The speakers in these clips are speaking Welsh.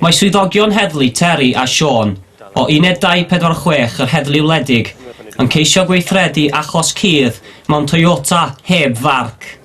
Mae swyddogion heddlu Terry a Siôn o Uned 246 yr Heddlu Wledig yn ceisio gweithredu achos cudd mewn Toyota heb farc.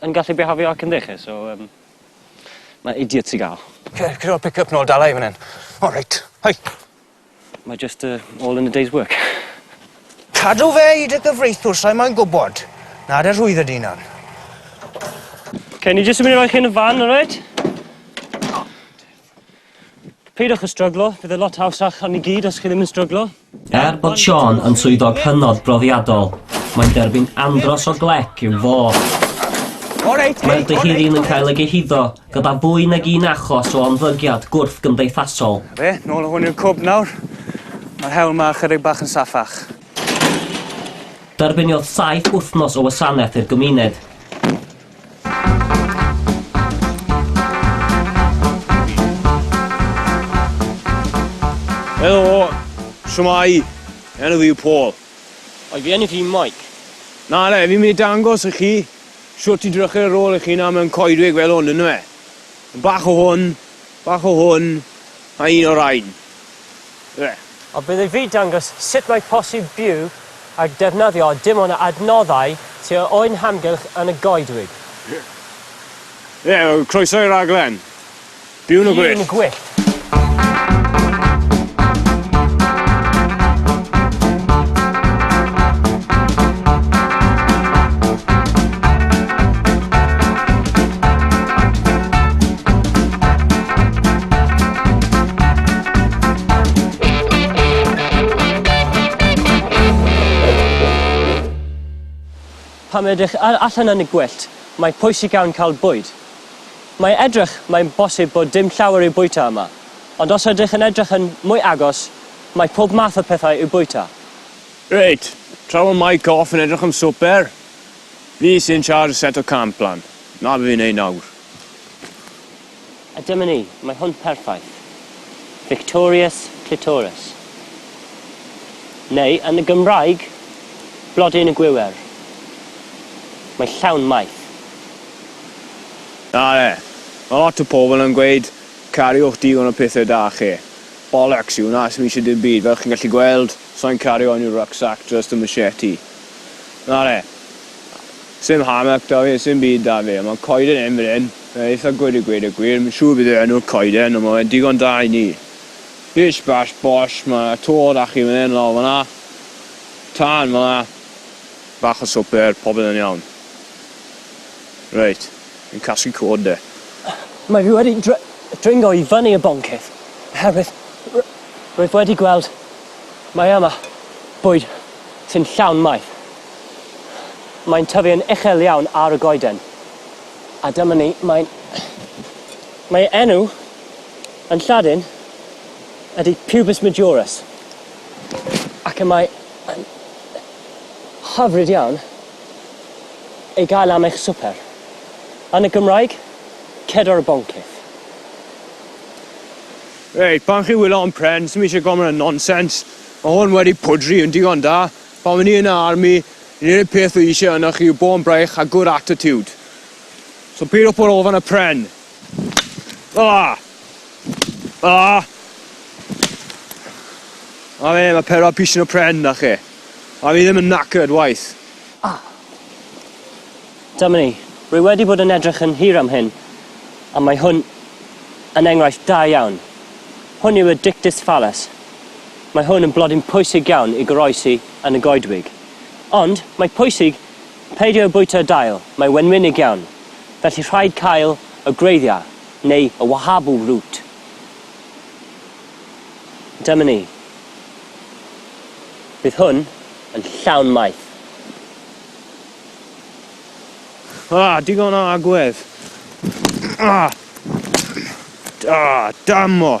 Yn gallu bihafio ac yn dde 'lly so yym ma' idiots i ga'l. Cer cer o'r pick up nôl dala i fan 'yn. O reit. Hei! Mae jyst yy all in a day's work. Cadw fe i dy gyfreithiwr sai moyn gwbod. Na dy rhwyddo dy unan. Ok ni jyst yn myn' i roi chi yn y fan alright? Peidiwch â stryglo, bydd e'n lot hawsach am ni gyd os chi ddim yn stryglo. Er bod Shaun yn swyddog hynod brofiadol, mae'n derbyn andros o glec i'w fôr. Mae'r dyheadyn yn cael ei gyhuddo gyda fwy nag un achos o ymddygiad gwrthgymdeithasol. Na fe, nôl â hwn i'r cwb nawr. Mae'r hewl 'ma ychydig bach yn saffach. Derbyniodd saith wythnos o wasanaeth i'r gymuned. Helo, siwmai, enw fi yw Paul. Oedd fi enw fi Mike. Na, le, fi'n mynd i dangos i chi siwt i drychu ar ôl i chi na mewn coedwig fel hwn, ynddo fe? Bach o hwn, Bach o hwn a un o rain. Ble? A bydd ei fyd dangos sut mae posib byw a defnyddio dim ond adnoddau ti a ŵyn hamgylch yn y goedwig. Ie, croeso i raglen. Byw yn y gwyllt. Byw yn y gwyllt. Pan edrych allan yn y gwyllt, mae pwysig iawn cael bwyd. Mae edrych, mae'n bosib bod dim llawer i'w bwyta yma, ond os ydych yn edrych yn mwy agos, mae pob math o pethau i'w bwyta. Reit, tra fo Mike Gough yn edrych am swper, fi sy'n charge set o camp lan. Na fi'n ei nawr. A dyma ni, mae hwn perffaith. Victorious Clitoris. Neu, yn y Gymraeg, Blodyn y Gwiwer. Mae llawn maeth. Nale, mae lot o pobl yn gweud, cariwch digon o pethau da chi. Bollocks yw hwnna, sdim eisiau dim byd, fel chi'n gallu gweld, sai'n cario unrhyw rucksack, just a machete. Nale, Sim hamak da fi, sim byd da fi, ond mae coeden hyn fan hyn yn eitha gwd i gweud y gwir, fi'n siŵr beth yw enw'r coeden ond mae fe'n digon da i ni. Bish bash bosh, mae 'na to da chi fan hyn, lawr fan'na, tân fan'na, bach o swper, popeth yn iawn. Reit, fi'n casglu coed 'de. Mae fi wedi dr- dringo i fyny y boncyff oherwydd r- rwyf wedi gweld mae yma bwyd sy'n llawn maeth. Mae'n tyfu yn uchel iawn ar y goeden. A dyma ni, mae'n... Mae ei enw yn Lladin ydy Pubis Majorus. Ac y mae yn hyfryd iawn ei gael am eich swper. Yn y Gymraeg, cedor y boncyff. Reit, pan chi'n wylio hon pren, sdim eisiau gormod o nonsense. Mae hwn wedi pwdri yn digon da. Pan o'n i yn y army, yr unig peth oedd eisiau ynoch chi yw bod yn braich a good attitude. So peidio bod o fan y pren. Ah! Ah! A fe, mae pedwar pisin o pren da chi. A fi ddim yn knackered waith. Ah! Dyma ni. Rwy wedi bod yn edrych yn hir am hyn, a mae hwn yn enghraifft da iawn. Hwn yw y dictus fallus. Mae hwn yn blodyn pwysig iawn i goroesi yn y goedwig. Ond, mae pwysig peidio â bwyta dail, mae wenwynig iawn, felly rhaid cael y gwreiddiau, neu y wahabu root. Dyma ni. Bydd hwn yn llawn maeth. Ah, digon o agwedd. Ah! Ah, dammo!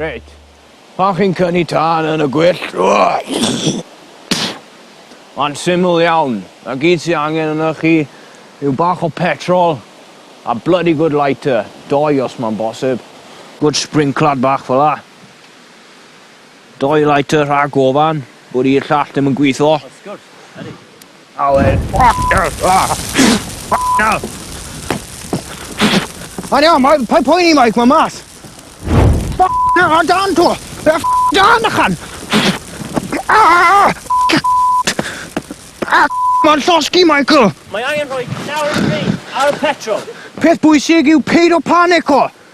Reit. Pan chi'n cyni tân yn y gwyllt... Mae'n syml iawn. Mae gyd sy'n angen yna chi yw bach o petrol a bloody good lighter. Doi os mae'n bosib. Good sprinkler bach fel la. Doi lighter rhag ofan bod i'r llall ddim yn gwitho. Awen. Mae'n iawn, mae pa poeni Mike, mae mas. Ffocin a dan to! Fe a dan ychan! Mae'n llosgi, Michael! Mae angen rhoi nawr yn fi ar y petrol. Peth bwysig yw peidio panico!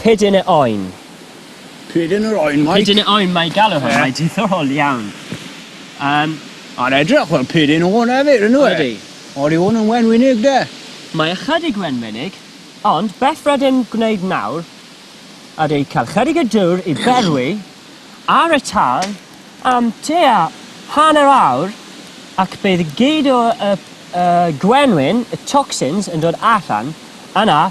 Pyd yn y oen. Pyd yn yr oen, Mike? Pyd yn y oen, mae galw hwn, mae diddorol iawn. Yym. A'n edrych fel pyd yn oen hefyd, yn yw e? Ydi. Ond yw hwn yn wenwynig de? Mae ychydig wenwynig, ond beth rydym gwneud nawr ydy cael chydig o dŵr i berwi ar y tân am tua hanner awr ac bydd gyd o y y gwenwyn, y toxins, yn dod allan, yna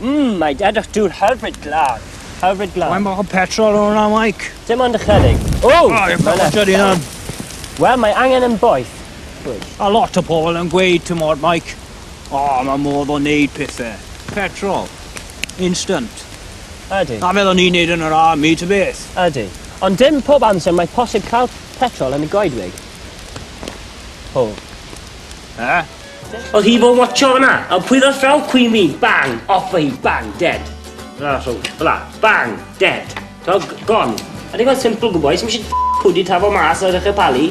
Mmm, mae dadwch dŵr hybrid glân. Hybrid glân. Mae'n bach o petrol yn hwnna, Mike. Dim ond ychydig. O! Oh, mae'n bach o Wel, mae angen yn boeth. Pwyll. A lot o pobl yn gweud, ti'n modd, Mike, o, oh, mae modd o wneud pethau. Petrol. Instant. Ydy. A fel o'n i'n neud yn yr army, ty beth. Ydy. Ond dim pob amser mae posib cael petrol yn y goedwig. Ho. Eh? Oedd hi fod watcho fyna? Ond pwy ddoth draw Queen fi? Bang! Off hi! Bang! Dead! Rha rhwng. Fela. Bang! Dead! To, gone. A digon simple, good boys. Mae eisiau pwdi tafo mas a ddechrau palu.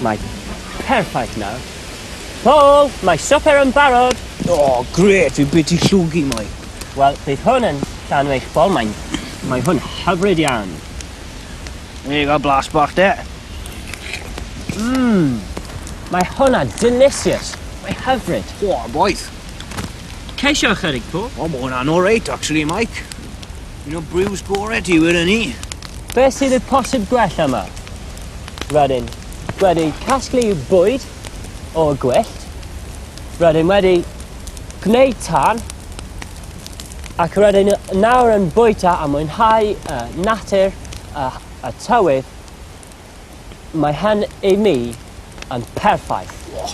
Mae perffaith nawr. Paul, mae swper yn barod. O, oh, gret, fi beth i llwgu mwy. Wel, bydd hwn yn llanw eich bol, mae'n... Mae hwn hyfryd iawn. There you go, blas bach de. Mmm, mae hwnna delicious. Mae hyfryd. O, oh, boeth. Ceisio ychydig, po? O, oh, mae hwnna'n all right, actually, Mike. Un o brews gore ti, wir yn ni. Be sydd y posib gwell yma? Rydyn wedi casglu bwyd o gwyllt. Rydyn wedi gwneud tan ac rydyn nawr yn bwyta a mwynhau y natur a, a tywydd, mae hyn i mi yn perffaith. Oh.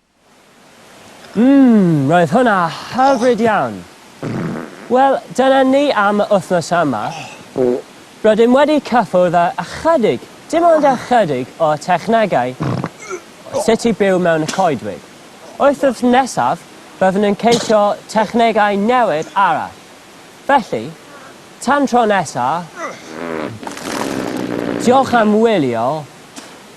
Mmm, roedd hwnna hyfryd iawn! Wel, dyna ni am y wythnos yma. Rydym wedi cyffwrdd ar ychydig, dim ond ychydig, o'r technegau o sut i byw mewn y coedwig. Wythnos nesaf, byddwn yn ceisio technegau newydd arall. Felly, tan tro nesa, diolch am wylio!